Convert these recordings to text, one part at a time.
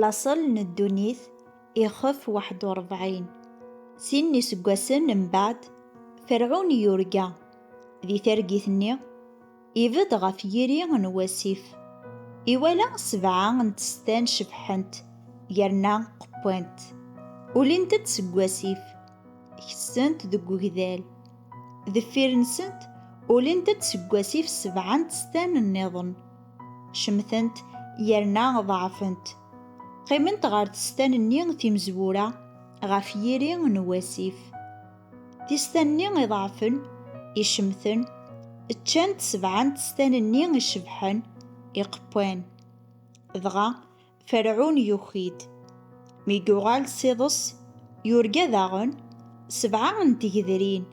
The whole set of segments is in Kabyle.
Laṣel n ddunit ixef waḥed u ṛebɛin. Sin n yiseggasen mbeɛd, Ferɛun yurga. Di targit-nni, ibedd ɣef yiri n wasif. Iwala sebɛa n tstan cebḥent yerna qewwant. Ulint-d seg wasif, kessent deg ugdal. Deffir-nsent, ulint-d seg wasif sebɛa n tstan nniḍen. Cemtent yerna ḍeɛfent. Qqiment ɣer testan-nni timezwura ɣef yiri n wasif. Tistan-nni iḍeɛfen, icemten, ččant sebɛa n testan-nni icebḥen, iqewwan. Dɣa, Ferɛun yuki-d. Mi yuɣal s iḍes, yurga daɣen sebɛa n tgedrin,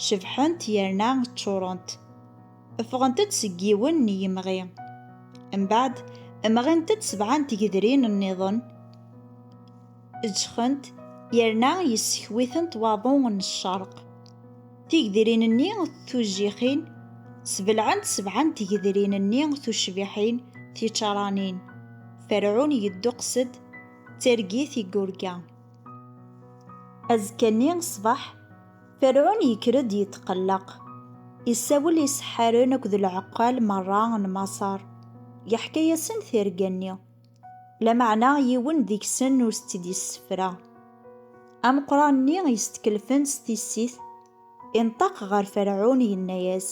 cebḥent yerna ččurent. Ffɣent-d seg yiwen n yemɣi. Mbeɛd, mɣint-d sebɛa n tgedrin nniḍen. Ǧǧxent yerna yessekwitent waḍu n ccerq. Tigedrin-nni tujjixin sbelɛent sebɛa n tgedrin-nni tucbiḥin tičaranin. Ferɛun yedduqes-d d targit i yurga. Azekka-nni ṣṣbeḥ, Ferɛun yekker-d yetqelleq. Isawel iseḥḥaren akked lɛeqqal merra n Maṣer, yeḥka-yasen tirga-nni. Lameɛna yiwen deg-sen ur s-tt-id-yessefra. Ameqran-nni yestkellfen s tissit, inṭeq ɣer Ferɛun, yenna-yas,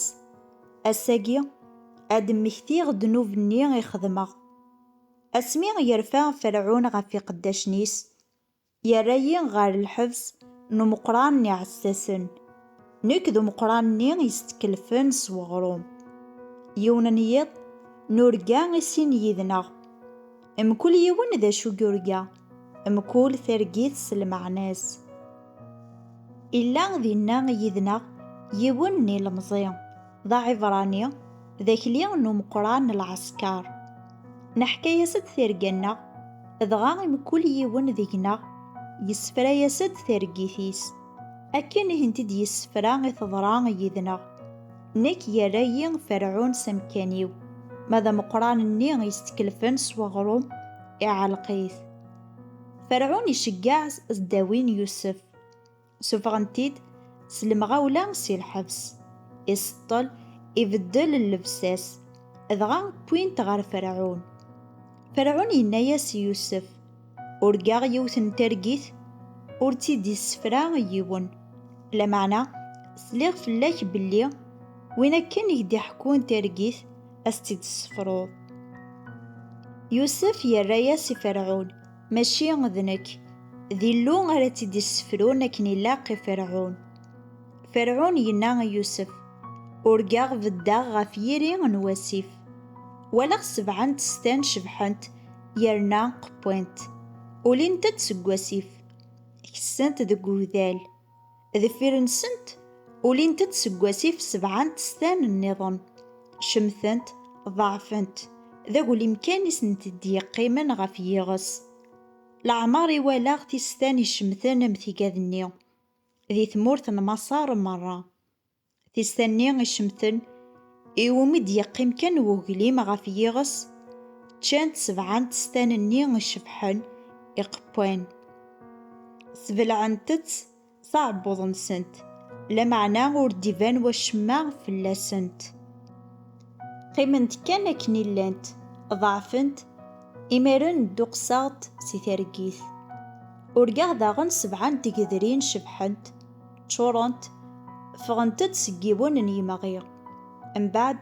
Ass-agi, ad d-mmektiɣ ddnub-nni i xedmeɣ. Asmi yerfa Ferɛun ɣef iqeddacen-is, Yerra-yi ɣer lḥebs n umeqqran n iɛessasen, nekk d umeqqran-nni yestkellfen s weɣrum. Yiwen n yiḍ, nurga i sin yid-neɣ. Mkul yiwen d acu yurga, mkul targit s lmeɛna-s. Illa dinna yid-neɣ yiwen n ilemẓi. d aɛibrani d akli n umeqran n lɛesker. Neḥka-yas-d tirga-nneɣ, dɣa i mkul yiwen deg-neɣ yessefra-yas-d targit-is. Akken i tent-id-yessefra i teḍra yid-neɣ. Nekk yerra-yi Ferɛun s amekkan-iw, ma d ameqran-nni yestkellfen s weɣrum, iɛelleq-it. Ferɛun iceggeɛ s ddawi n Yusef. Suffɣen-t-id s lemɣawla si lḥebs. Iseṭṭel, ibeddel llebsa-s, dɣa wwin-t ɣer Ferɛun. Ferɛun yenna-yas i Yusef, Urgaɣ yiwet n targit ur tt-id-issefra yiwen, lameɛna sliɣ fell-ak belli win akken i k-d-iḥekkun targit ad s-tt-id-tessefruḍ. Yusef yerra-yas i Ferɛun, Mačči d nekk, d Illu ara tt-id-issefrun akken ilaq i Ferɛun. Ferɛun yenna i Yusef, Urgaɣ beddeɣ ɣef yiri n wasif. Walaɣ sebɛa n testan cebḥent yerna qewwint, ulint-d seg wasif, kessent deg ugdal. Deffir-nsent, ulint-d seg wasif sebɛa n testan nniḍen. Cemtent, ḍeɛfent, d aglim kan i sent-d-yeqqimen ɣef yiɣes. Leɛmeṛ i walaɣ tistan icemten am tigad-nni di tmurt n Maṣer meṛṛa. Tista-nni icemten, iwumi d-yeqqim kan weglim ɣef yiɣes, ččan-t sebɛa n testan-nni icebḥen, iqewwan. Sbelɛent-tt s aɛebbuḍ-nsent, lameɛna ur d-iban wacemma fell-asent. Qqiment kan akken i llant, ḍeɛfent, imaren dduqseɣ-d si targit. Urgaɣ daɣen sebɛa n tgedrin cebḥent, Ččurent, ffɣent-d seg yiwen n yemɣi. Mbeɛd,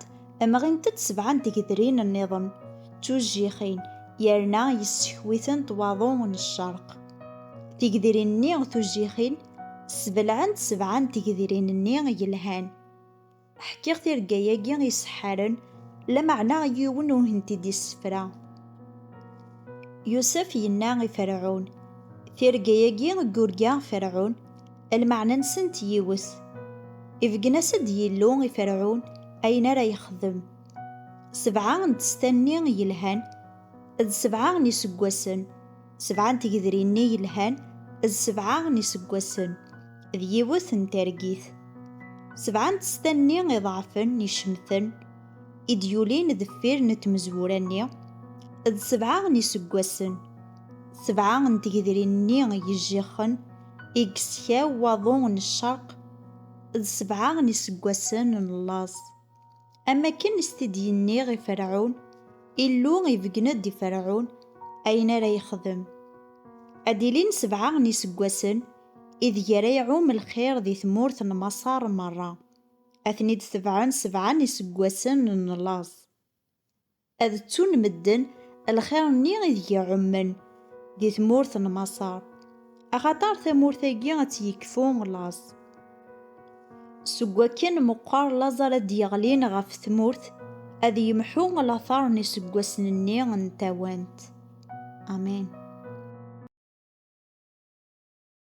mɣint-d sebɛa n tgedrin nniḍen, d tujjixin, yerna yessekw-itent waḍu n ccerq. Tigedrin-nni tujjixin, ssbelɛent sebɛa n tgedrin-nni yelhan. Ḥkiɣ tirga-agi iseḥḥaren, lameɛna yiwen ur hent-id-yessefra. Yusef yenna i Ferɛun, Tirga-agi i yurga Ferɛun, lmeɛna-nsent yiwet. Ibeggen-as-d Yillu i Ferɛun ayen ara yexdem. Sebɛa n testa-nni yelhan, d sebɛa n yiseggasen. Sebɛa n tegdrin-nni yelhan d sebɛa n yiseggasen d yiwet n targit. Sebɛa n testan-nni iḍeɛfen n yicemten i d-yulin deffir n tmezwura-nni d sebɛa n yiseggasen. Sebɛa n tegdrin-nni yejjixen i yeskaw waḍu n ccerq d sebɛa n yiseggasen n laẓ. Am akken s t-id yenniɣ i Ferɛun, Illu ibeggen-d i Ferɛun ayen ara yexdem. Ad ilin sebɛa n yiseggasen ideg ara iɛum lxir di tmurt n Maṣer merra, ad ten-id-tebɛen sebɛa n yiseggasen n laẓ. Ad ttun medden lxir-nni ideg ɛummen di tmurt n Maṣer, axaṭer tamurt-agi ad tt-yekfu laẓ. Seg wakken meqqer laẓ ara d-yeɣlin ɣef tmurt, ad yemḥu lateṛ n iseggasen-nni n tawant. Amen.